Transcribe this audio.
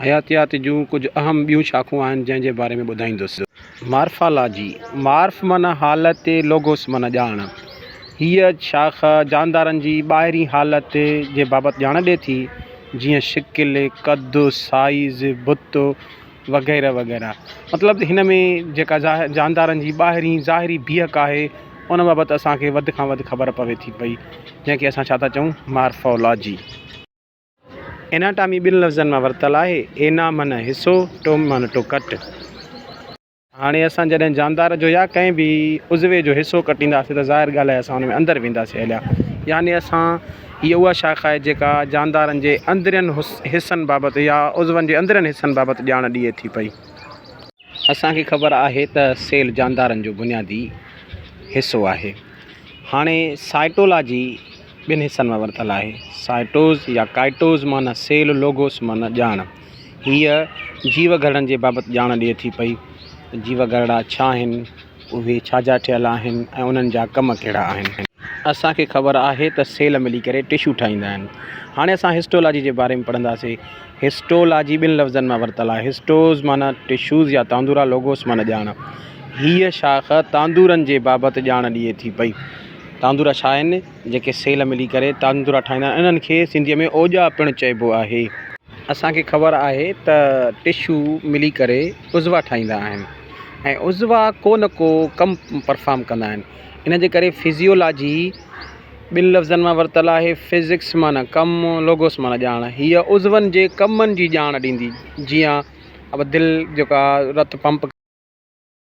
حياتيات جون ڪجهه اهم ٻيون شاخون آهن جنهن جي باري ۾ ٻڌائيندس. مارفالاجي، Marph، معنيٰ حالت، Logos، معنيٰ ڄاڻ. هيء شاخ جاندارن جي ٻاهرين حالت جي بابت ڄاڻ ڏئي ٿي، جيئن شڪل، قد، سائيز، بت وغيره وغيره. مطلب هن ۾ جيڪا جاندارن جي ٻاهرين ظاهري بيهڪ آهي ان بابت اسان کي وڌ کان وڌ خبر پوي ٿي پئي جنهن کي اسان ڇا ٿا چئون مارفالاجي. Anatomy ٻن لفظن مان ورتل آهي، Ana معنيٰ حصو، Tom معنيٰ ٽو ڪٽ. هاڻي اسان جڏهن جاندار جو يا ڪنهن به عضوي جو حصو ڪٽينداسين ته ظاهر ڳالهه آهي اسان ان ۾ اندر وينداسين هليا يعني اسان هيء اها شاخ آهي جيڪا جاندارن جي اندرين حصن بابت يا عضون جي اندرين حصن بابت ڄاڻ ڏئي ٿي پئي. اسان کي خبر آهي ته سيل جاندارن جو بنيادي حصو آهي. هاڻي سائٽولاجي. ٻن حصن مان ورتل آهي. سائيٽوز يا ڪائيٽوز معنيٰ سيل لوگوس معنيٰ ڄاڻ. هيء جيو گهرڙن جي بابت ڄاڻ ڏئي ٿي پئي ته جيو گهرڙا ڇا آهن، اهي ڇا جا ٺهيل آهن ۽ انهن جا ڪم ڪهڙا آهن. اسان کي خبر آهي ته سيل ملي ڪري ٽشو ٺاهيندا آهن. هاڻي اسان هسٽولاجي جي باري ۾ پڙهنداسين. هسٽولاجي ٻن لفظن مان ورتل آهي. هسٽوز معنيٰ ٽشوز يا تاندورا لوگوس معنيٰ ڄاڻ. هيء شاخ تاندورن جي بابت ڄاڻ ڏئي ٿي پئي. تاندورا ڇا آهن؟ جيڪي سيل ملي ڪري تاندورا ٺاهيندا آهن انهن کي سنڌيء ۾ اوڄا پڻ چئبو آهي. اسان کي خبر آهي ته ٽشو ملي ڪري عضوا ٺاهيندا آهن ۽ عضوا ڪو نه ڪو ڪم پرفارم ڪندا آهن ان جي ڪري فزيولاجي ٻن لفظن مان ورتل آهي فزڪس معنيٰ ڪم لوگوس معنيٰ ڄاڻ هيء عضون جي ڪمن جي ڄاڻ ڏيندي جيئن دل جيڪا رت پمپ